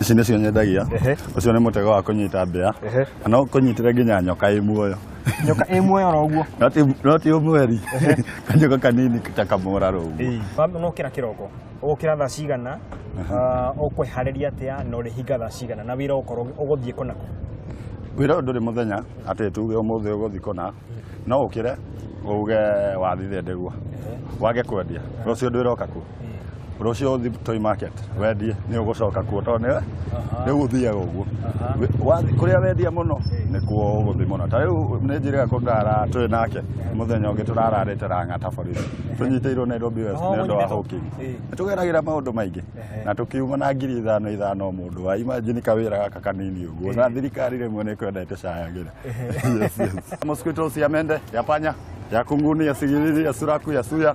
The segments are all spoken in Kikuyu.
ici nĩcio nyendagia Ehe. ũcio nĩ mũtego wa kũnyita mbĩa Ehe. na no kũnyitĩre nginya nyoka ĩ muoyo nyoka ĩ muoyo oro ũguo No ti- no ti ũmweri kanyoka kanini ta kamũrarũ ũguo Wambe no kĩra kĩroko ũgũkĩra thaa cigana ah, ũkwĩharĩria atĩa na ũrĩhinga thaa cigana na wĩra ũkorwo ũgũthiĩ kũna wĩra ũyũ ndũrĩ mũthenya atĩ tuge ũmũthĩ ũgũthi kũna no ũkĩre uge wathithia ndĩguo wage kwendia rũciũ ndwĩroka ku rũciũ thi- toy market wendie nĩ ũgũcoka kuo tondũ nĩ- rĩu ũthiaga ũguo Wĩ- wathi- kũrĩa wendia mũno nĩkuo ũgũthi mũno ta rĩu nĩ njĩrĩga kũndara twĩ nake mũthenya ũngĩ tũrararĩte rang'ata borithi tũnyitĩirwo nairobi west nĩ ũndũ wa hũkingi nĩ tũgeragĩra maũndũ maingĩ na tũkiuma na ngiri ithano ithano o mũndũ wa imajini kawĩra gaka kanini ũguo na thirikari rĩmwe nĩ kwenda ĩtũcayagĩra Yes, yes. mosquitoes ya mende ya panya ya kunguni ya sigiriri ya suraku ya suya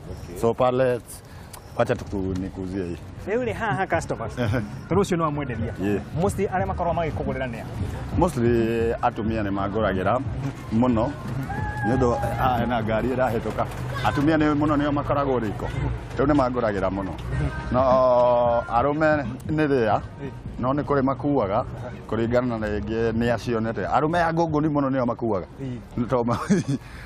Okay. So pale wacha tukunikuzie hii. Rĩu rĩ haha customers. Tondũ ũcio no amwenderia. Yeah. Mostly arĩa makoragwo magĩkũgũrĩra nĩa. Mostly atumia nĩ mangũragĩra mũno nĩ ũndũ ah, ena ngari ĩrahĩtũka atumia nĩ mũno nĩo makoragwo riko rĩu nĩ mangũragĩra mũno no arũme nĩ rĩa no nĩ kũrĩ makuaga kũringana na rĩngĩ nĩ acionete arũme a ngũngũni mũno nĩo makuaga Ii. To ma-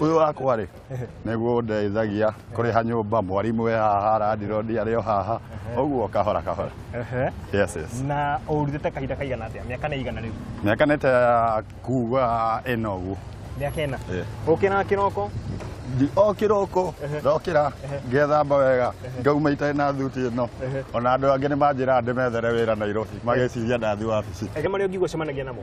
Ũyũ wakwa rĩ nĩguo ndeithagia kũrĩha nyũmba mwarimũ e haha randirodi arĩ o haha ũguo kahora kahora Ehe. yes yes na ũrutĩte kahinda kaigana atĩa mĩaka nĩ igana rĩu mĩaka nĩ ta kuga ĩna ũguo mĩaka ĩna Eh. ũkĩra kĩroko Ndi- o kĩroko ndokĩra ngethamba wega ngauma itarĩ na thuti ĩno Ehe. ona andũ angĩ nĩ manjĩra ndĩmethere wĩra nairobi magĩciria ndathi wabici ege marĩa ũngĩgua cemanagia namo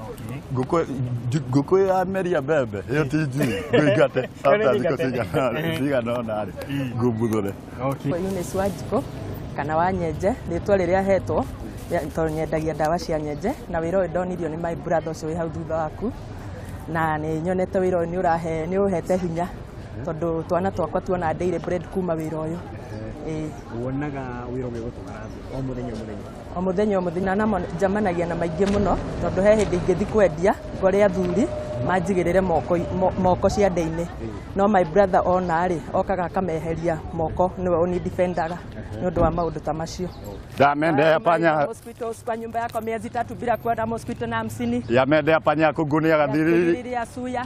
Gukwe- ju- ngũkũ ya meria mbembe ĩyo ti njui ngũingate after thikũ cigana- cigana ũna rĩ ngũmbuthũre Okay. Eunice Wanjikũ kana wa Nyenje rĩtwa rĩrĩa hetwo ya- tondũ nyendagia ndawa cia Nyenje na wĩra ũyũ ndonirio nĩ my brother ũcio wĩ hau thutha waku na nĩ nyonete wĩra ũyũ nĩ ũrahe nĩ ũhete hinya tondũ twana twakwa tuona daily bread kuma wĩra ũyũ Ĩĩ. Wonaga wĩra ũgĩgũtwara thĩ o mũthenya o mũthenya. o mũthenya o mũthenya na mo- njamanagia na maingĩ mũno tondũ he hĩndĩ ingĩthi kwendia ngore athuri manjigĩrĩre moko mo- moko ciande-inĩ no my brother ona-rĩ okaga akameheria moko nĩwe ũnindibendaga nĩ ũndũ wa maũndũ ta macio Ndamendea panya Mosquitoes kwa nyumba yako miezi tatu bila kuona mosquito na hamsini yamendea panya kungunia gathiriri Kulilia suya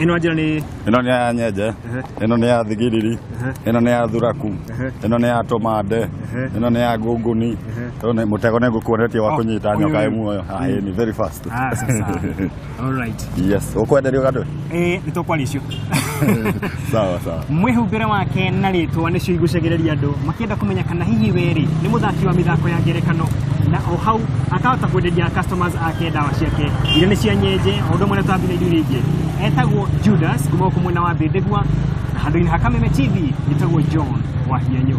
Ino njĩra nĩ ĩno nĩ ya nyenje ĩno nĩ ya thigiriri ĩno nĩ ya thuraku ĩno nĩ ya tũmande ĩno nĩ ya ngũngũni Tondũ nĩ- mũtego nĩ ngũkuonetie wa kũnyita ũyũ nyoka ĩ ũyũ. muoyo Ah, ĩĩ, nĩ very fast Ah, sasa. All right. yes ũkwenderio gatwe Eh, nĩ tũkwaria icio. sawa sawa Mwĩhumbĩre wake na rĩtwa nĩcio igucagĩrĩria andũ makĩenda kũmenya kana hihi we rĩ nĩ mũthaki wa mĩthako ya ngerekano na o hau akahota kwenderia customers ake ndawa ciake iria nĩ cia nyenje o ũndũ ũmwe na tũtambi na indo iria ingĩ etagwo Judas kuma gũkũ mwena wa Mbĩndĩgua na handũ-inĩ ha Kameme TV etagwo John Wahianyo.